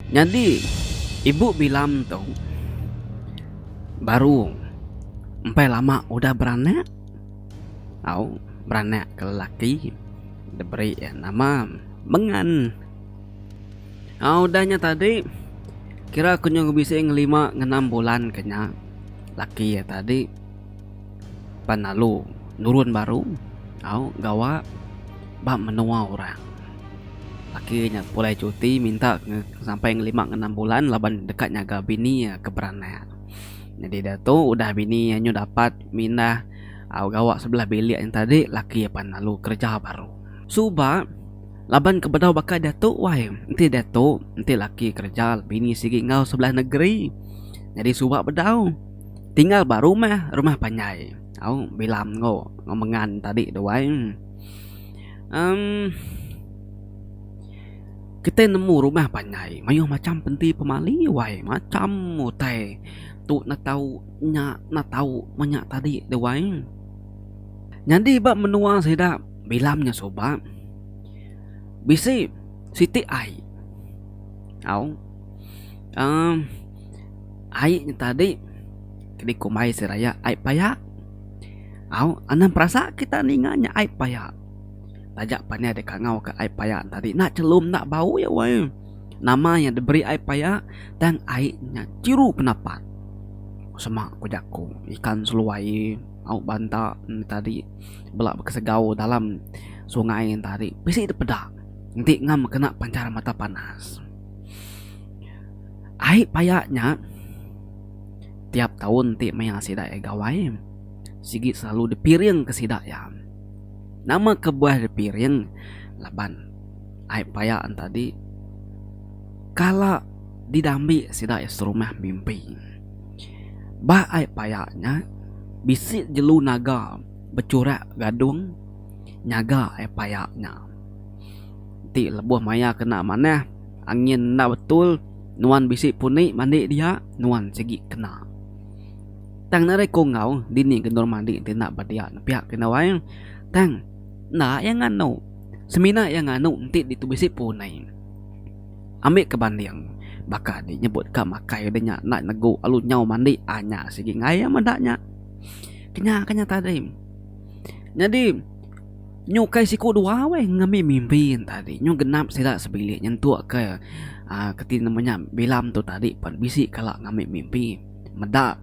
Nyadi, ibu Bilam tu baru empai lama udah beranak tau beranak ke lelaki diberi iya nama Mengan. Au udah nya tadi kira ku nyu bisi ngelima ngenam bulan ke nya laki iya tadi. Pan lalu nurun baru au gawa ba menua orang. Laki nya pulai cuti minta sampai lima enggau enam bulan laban deka nyaga bini iya ke beranak. Nyadi diatu udah bini iya nyu dapat mindah au gawa sebelah bilik nya tadi laki iya pan lalu kereja baru. Suba laban ke bedau baka diatu wai enti diatu enti laki kereja bini sigi enggau sebelah negeri. Nyadi suba bedau. Tinggal ba rumah, rumah panjai. Au bilam ngau ngau mengan tadi tu wai emm kitai nemu rumah panjai mayuh macham penti pemali wai macham utai tu neh tau nya neh tau menya tadi tu wai. Nyadi ba menua sida bilam nya suba bisi siti ai au emm. Ai nya tadi kini ku mai seraya ai payak au anang perasa kita ninga nya ai payak taja pan iya deka ngau ka ai payak tadi enda chelum enda bau iya weh nama iya diberi ai payak tang ai nya chiru pendapat sema ku jaku ikan seluai au banta nya tadi bela kesegau dalam sungai nya tadi bisi dipeda enti ngam kena pancar mata panas. Ai paya nya, tiap taun ti maya sida iya gawai, sigi selalu dipiringka sida iya. Nama kebuah dipiring laban ai paya enti adi kala didambi sida iya serumah mimpi. Ba ai paya nya bisi jelu naga bechurak gadung nyaga ai paya nya. Enti lebuh maya kena manah. Angin enda betul nuan bisi puni mandi dia nuan sigi kena. Tang nadai ku enggau dini gendur mandi ti enda ba dia nepiak ke nawai tang enda iya nganu semina iya nganu enti ditu bisi puni. Ambi ke banding baka di nyebut ka makai de nya enda negu alu nyau mandi anya sigi ngaya meda nya. Kenya ke nya tadi. Nyadi. Nyu ukai siku dua weh ngambi mimpi tadi nyu genap sida sebilik nyentuk ke uh, keti nama nya bilam tu tadi pan bisi kala ngambi mimpi meda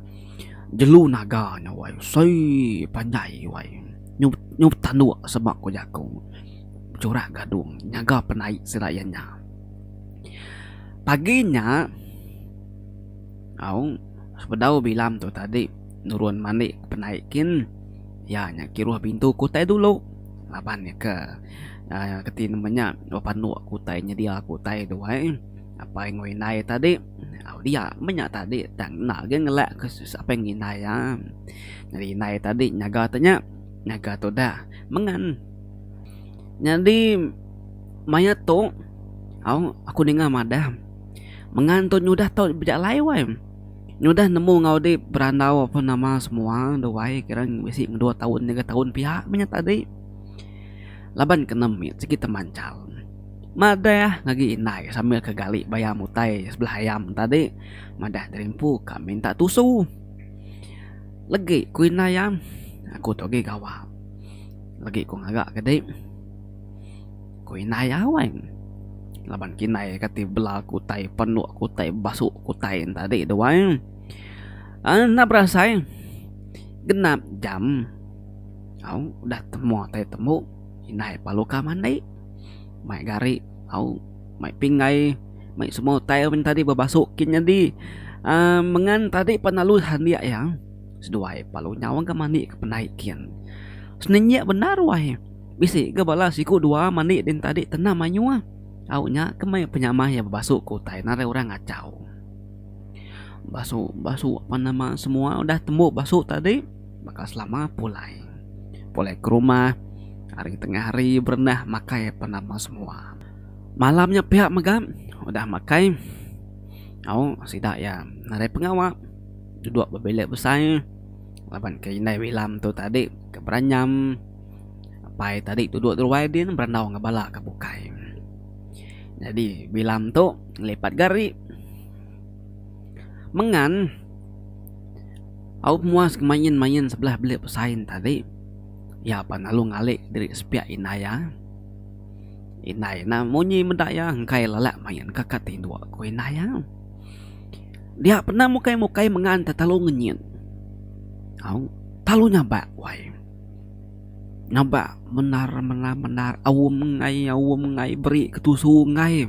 jelu naga nya wai sei panjai wai nyu nyu tanduk seba ku jaku bechurak gadung nyaga penai sida iya nya pagi nya au sebedau bilam tu tadi nurun mani penai kin Iya nya kiruh bintu kutai dulu laban iya ke keti nemu nya dua panuk kutai nyedia kutai tu ai apai enggau indai tadi au dia meh nya tadi tang enda agi ngelak ke apai enggau indai iya nyadi indai tadi nyaga te nya nyaga tudah mengan nyadi mayat tu au aku ninga madah mengan tu nyudah tau bejalai wai. Nyudah nemu enggau dep berandau apa nama semua enda wai kira bisi dua taun tiga taun pia meh nya tadi laban ke ne mit sigi temanchal madah ngagai indai sambil ke gali bayam utai sebelah ayam tadi madah diri empu ka minta tusu legi ku indai iya aku tu agi gawa legi ku ngaga ke dep. Ku indai Awang. Laban kinai kati bela ke utai penuk ke utai basu ke utai en tadi tu ai. Enda berasai genap jam au udah temu tai temu indai Palukah mandi mai gari au mai pinggai mai semua utai au tadi bebasu kin nyadi aaa mengan tadi pan lalu handik iya seduai Palu nyau ke mandi ke pendai kin. Senenjik bendar wai. Bisi ga bala siku dua mandi din tadi tenam mayuh. Au nya ke meh penyamah iya bebasu ke utai ne arai orang ngachau. Basu basu apan nama semua udah tembu basu tadi baka selama pulai. Pulai ke rumah ari tengah hari berendah makai apan nama semua. Malam nya pia mega udah makai au sida iya nadai pengawa duduk ba bilik besai laban ke indai Wilam tu tadi ke beranyam. Apai tadi duduk ruai din berandau enggau bala ke bukai. Jadi bilam tu ngelipat gari mengan au pemuas ke main-main sebelah bilik pesain tadi iya pa lalu ngalik diri sepiak indai iya. Indai nya munyi meda iya engkai lelak main ka kad tinduk ku indai iya. Dia pun enda mukai-mukai mengan tetalu ngenyit. Au telalu nyabak wai. Ngabak mendar mendar mendar aum enggai aum enggai beri ke tusu enggai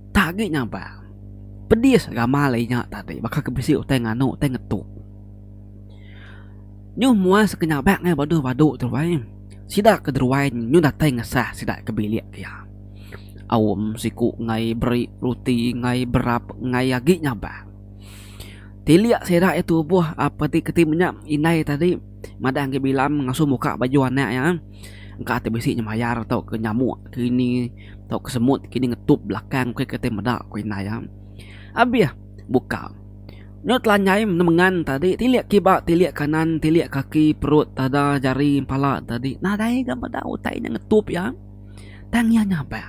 tak agi nyabak pedis gamal inya tadi baka ke bisi utai nganu utai ngetuk nyu muas ke nyabak ngai baduh badu tu bai sida ke deruai nyu datai ngesah sida ke bilik ke iya aum siku enggai beri ruti enggai berap enggai agi nyabak tilik sida iya tubuh ap ati keti menya indai tadi. madah agi bilam ngasu muka baju anak iya engka ti bisi nyemayar tauka nyamuk ke ini tauka semut ke ini ngetup belakang ke ti meda ku indai iya abih buka nya telanjai nemengan tadi tilik kiba tilik kanan tilik kaki perut dada jari pala tadi nadai ga meda utai nya ngetup iya tang iya nyampek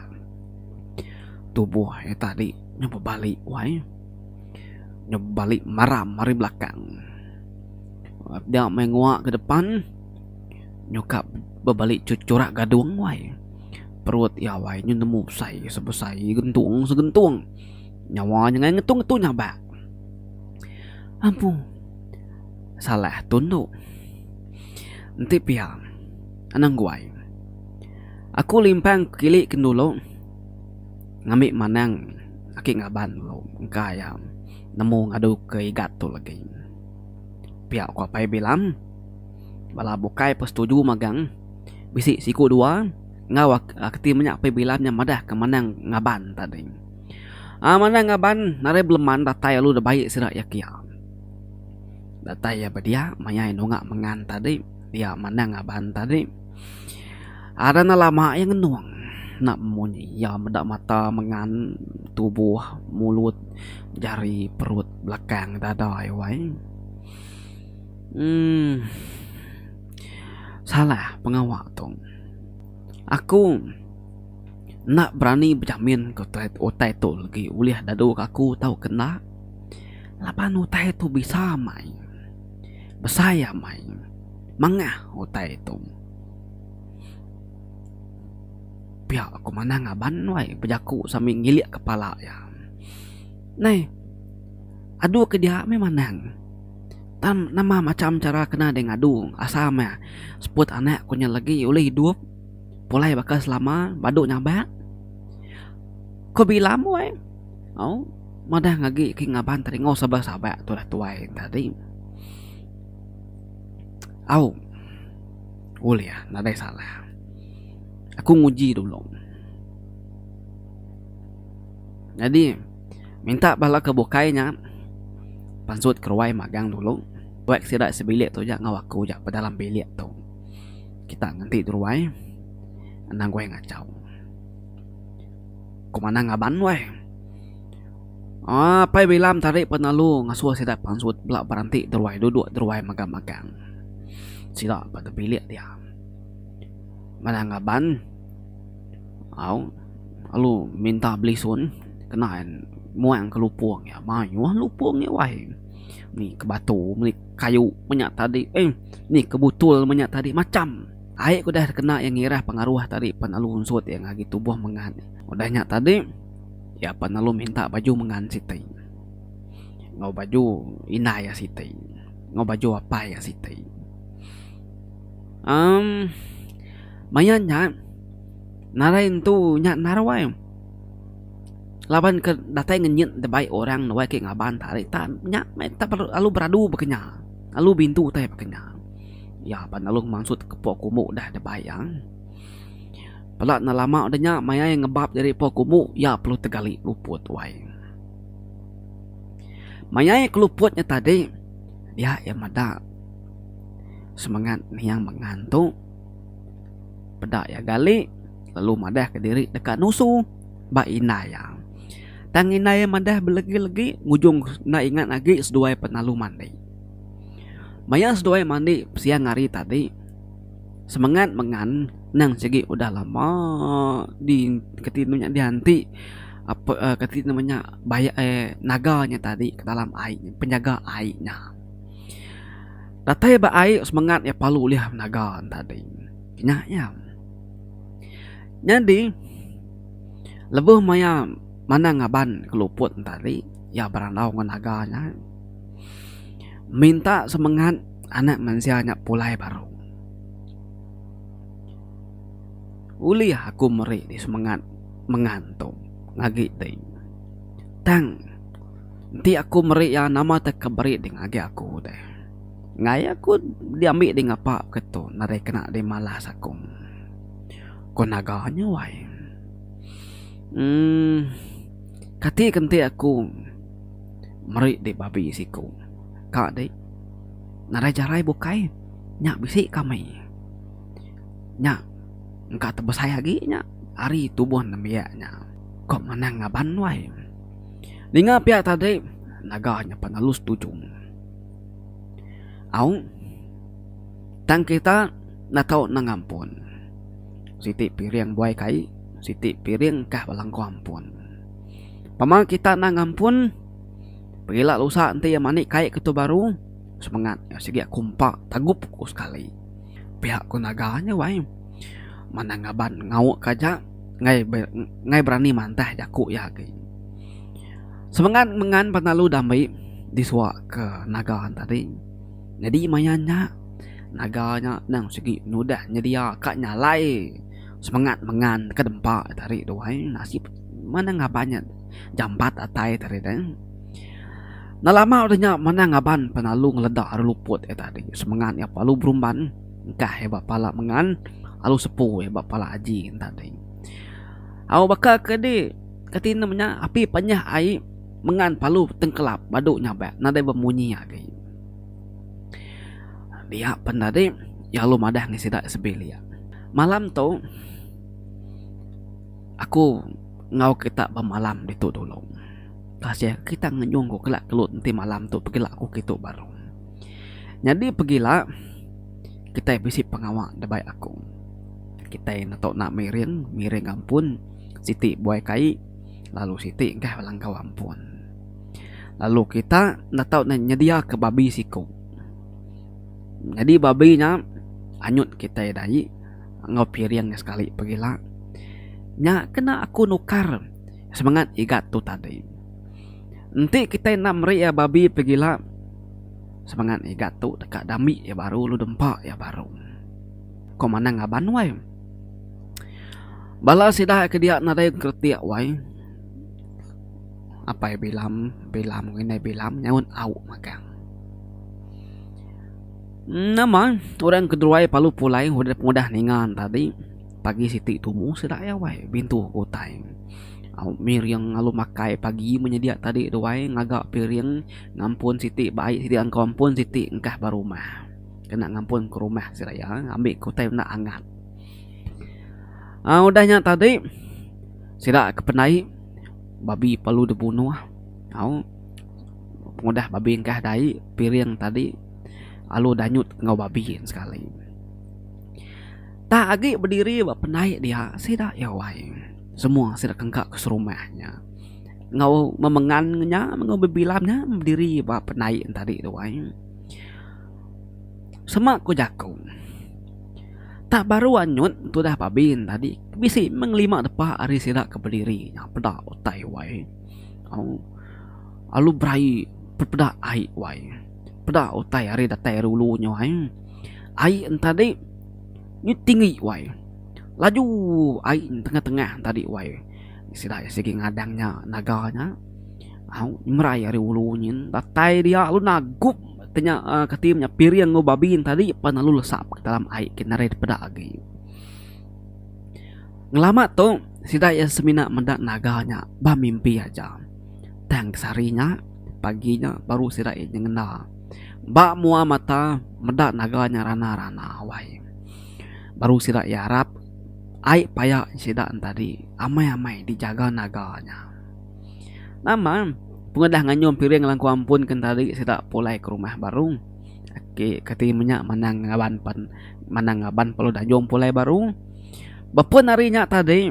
tubuh iya tadi nya bebali wai nya bebali maram ari belakang. Dia mai ngua ke depan nyukap bebali churak gadung wai. Perut iya wai nyu nemu besai sebesai gentung segentung. Nyawa nya ngai ngetu ngetu nyabak. Ampu salah tun tu. Enti pia anang guai. Aku limpang kili kin dulu ngambi manang aki ngaban dulu engka iya nemu ngadu ke igat tu legi. Pia ku Apai Bilam. Bala bukai pun setuju magang. Bisi siku dua enggau ke ti menya Apai Bilam nya madah ke Manang Ngaban tadi. Aa Manang Ngaban nadai beleman datai lalu deba baik sida iya kia. Datai iya ba dia maya iya nunga mengan tadi iya Manang Ngaban tadi. Aa dah enda lama iya ngenung enda munyi iya meda mata mengan tubuh mulut jari perut. belakang dada ai wai um salah pengawa tu aku enda berani bejamin ke utai tu legi ulih dadu ke aku tau ke enda laban utai tu bisa amai besai amai mangah utai tu pia ku manang aban wai bejaku sambil ngilik kepala iya. Nai. Adu ke dia meh manang. Tam nama macham chara kena deh ngadu asa meh seput anak ku nya legi ulih idup pulai baka selama badu nyabak ku bila meh weh au madah ngagi ke ngaban teringau sebah sabak tu dah tuai enta di au ulih nadai salah aku nguji dulu. Nyadi, minta bala ke bukai nya pansut keruai magang dulu. Buek sida sebilik tu aja enggau aku aja bedalam bilik tu. Kita ngenti deruai anang guai ngachau. Ku manah ngaban weh. Aaa pai bilam tadi penalu ngasuh sida pansut bela beranti deruai duduk deruai mega magang. Sida ba te bilik dia. Manah ngaban. Au alu minta belisun kena muang ke lupong iya mayuh lupong iya wai meli ke batu meli ke kayu menya tadi eh meli ke butul menya tadi macam ai ke udah kena iya ngirah pengaruh tadi pen alu ensut iya ngagai tubuh mengan udah nya tadi iya pen alu minta baju mengan siti enggau baju indai iya siti enggau baju apai iya siti emm. Maya nya narai entu nya naruai laban ke datai ngenyit debai orang nuai ke ngaban tarik tan nya meh lalu beradu ba ke nya lalu bintu utai ba ke nya iya pa lalu mansut ke puak ke umbu deh debai iya pala enda lama deh nya maya iya ngebap diri puak ke umbu iya perlu tegali luput tuai maya iya ke luput nya tadi iya meda semangat niang mengan tu. Peda iya gali lalu madahka diri deka nusu ba indai iya. Tang indai iya madah belegi-legi ngujung enda ingat agi seduai penalu mandi. Maya seduai mandi siang hari tadi semengat mengan nang sigi udah lama di kati inya dianti ape kati nama nya bayak naga nya tadi ke dalam ai penjaga ai nya. Datai ba ai semengat iya palu ulih naga enta ding. Nya iya. Nyadi lebuh maya manang ngaban keluput enta ari iya berandau enggau naga nya minta semengat anak mensia nya pulai baru. Ulih aku meri semengat mengan tu agi ding tang. Enti aku meri iya, nama tau ke beri ding agi aku deh. Enggai aku diambi ding apa ke tu nadai kena dimalas aku. Ko naga nya wai. Emm kati ke enti aku meri di babi siku ka dei nadai jarai bukai nya bisi kami. Nya engka tebesai agi nya ari tubuh nembiak nya. Ko manang ngaban wai. Ninga pia tadi naga nya penelu setuju. Au tang kita enda tau nang ampun. Siti piring buai kai siti piring kah belenggu ampun. Pama kita enda ngampun pengila lusa enti iya mani kai ke tu baru semengat nya sigi aku empa tagup ku sekali. Pia ku naga nya wai manang ngaban ngau ke aja. ngai ngai berani mantah jaku iya agi. Semengat mengan penalu dambi disua ke naga tadi nyadi maya nya naga nya endang sigi nudah nyedia ka nyalai semengat mengan ka dempa tadi tu ai nasib mana ngaban nya jampat atai tadi tu ai. Nelama udah nya mana ngaban penalu ngeleda ari luput iya tadi semengat iya lalu berumban. Engkah iya ba pala mengan alu sepu iya ba pala aji enda ding. Au baka ke di kati ne menya api panyah ai mengan palu tengkelap badu nyabak nadai bemunyi agi. Dia pen tadi iya alu madah ngan sida sebilik. Malam tu aku enggau kita bemalam ditu dulu. Kasih kita ngenyung ku kela kelut enti malam tu pegila ku kitu baru. Nyadi pegila kitai bisi pengawa da baik aku. Kitai enda tau enda miring, miring ampun siti buai kai lalu siti engkah langkau ampun. Lalu kita enda tau nyedia ke babi siku. Nyadi babi nya anyut kitai dai enggau piring nya sekali pegila. Nya kena aku nukar semangat igat tu tadi. Enti kitai enda meri iya babi pegila semangat iga tu deka dami iya baru lalu dempa iya baru ko manang ngaban wai bala sida ke dia nadai kretek wai Apai Bilam Bilam ngan Indai Bilam nyaut au magang nama orang ke deruai palu pulai udah ninga tadi. Pagi siti tumu sida iya wai bintu ku utai. Au mih riang ngalu makai pagi menyedia tadi tu wai ngaga piring ngampun siti ba ai siti engkau ampun siti engkah ba rumah. Kena ngampun ke rumah sida iya ambi ku utai enda angat. Au udah nya tadi sida ke pendai babi perlu dibunuh au pengudah babi engkah da ai piring tadi alu danyut enggau babi sekali. Tang agi bediri ba penai dia sida iya wai semua sida kengka ke serumah nya enggau memengan nya enggau bebilang nya bediri ba penai nya tadi tu ai sema ku jaku tak baru anyut tudah babi nya tadi bisi meng lima depa ari sida ke bediri nya peda utai wai au alu beraie pepeda ai wai. peda utai ari datai ari ulu nyo ai ai entadi nyu tinggi wai laju ai tengah-tengah tadi wai sida sigi ngadang nya naga nya au merai ari ulu nyin datai dia lalu nagup ke nya kati nya piring enggau babi tadi pan lalu lesak ke dalam ai kin ari peda agi ngelama tu sida iya semina meda naga nya ba mimpi aja tang sehari nya. pagi nya baru sida ain nyengenda ba mua mata meda naga nya rana-rana wai baru sida ain arap ai paya sida entadi amai-amai dijaga naga nya nama pengudah nganyum piring langku ampun ke entadi sida pulai ke rumah baru ake kati menya manang ngaban pen manang ngaban pelu dayung pulai baru bepun ari nya tadi.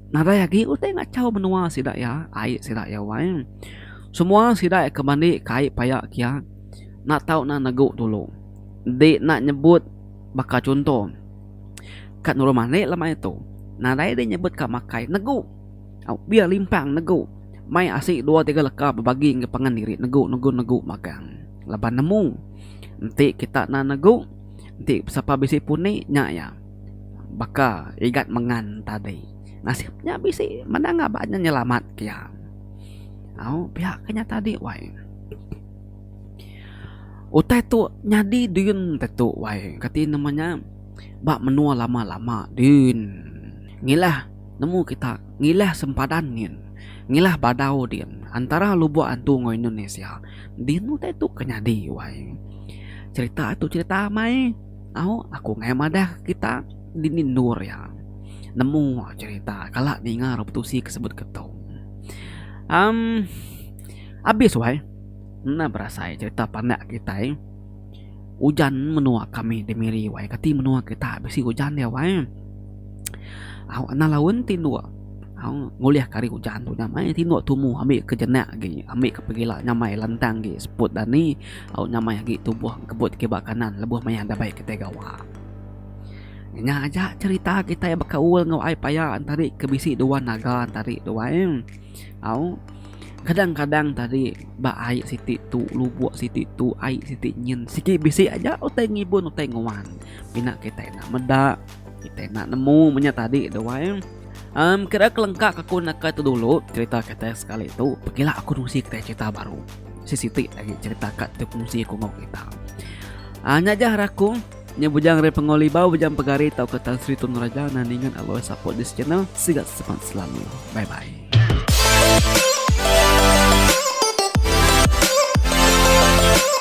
Nadai agi utai ngachau menua sida iya, ai sida iya wai. Semua sida iya ke mandi kai paya kia enda tau nan negu dulu. Enti enda nyebut baka chunto ka nurun malik lama itu, nadai deh nyebut ka makai negu. Au biar limpang negu, mai asi dua tiga leka bebagi enggau pangan diri negu negu negu magang laban nemu. Enti kita nan negu, enti sapa bisi pun nya iya. baka igat mengan tadi nasib nya bisi meda ngaba nya nyelamat ka iya au pia ka nya tadi wai utai tu nyadi din tetu wai kati nama nya ba menua lama lama din ngilah nemu kita ngilah sempadan nyin ngilah badau din antara lubok antu enggau indonesia din utai tu ke nyadi wai cherita tu cherita amai. Au aku ngai madah kita dini endur iya nemu cerita kala ninga rebutusi ke sebut ke tu. Um abis wai enda berasai cerita pandak kitai ujan menua kami di miri wai kati menua kita bisi ujan dia wai au anang laun ti endur au ngulih ke ari ujan tu nya mai ti endur tumu ami ke jenak agi ami ke pegila nyamai lantang agi seput dani. Au nyamai agi tubuh engkebut kiba kanan lebuh maya enda bai kitai gawa. Nya aja cherita kitai bekaul enggau ai paya entari ke bisi dua naga entari tu ai. Au kadang-kadang tadi ba ai siti tu lubok siti tu ai siti nyin sigi bisi aja utai ngibun utai nguan pina kitai enda meda kitai enda nemu meng nya tadi tu ai. Em kira kelengkak aku naka tu dulu cherita kitai sekali tu pekila aku nusi kitai cherita baru. sesiti agi cerita ka tekungsi ku enggau kita. Ah nya jah rakung Nya bujang Ray Pengau Libau, bujang Pegari tau ke Tan Sri Tun Raja nan ningan aloi support this channel. Sigat sepan selalu. Bye bye.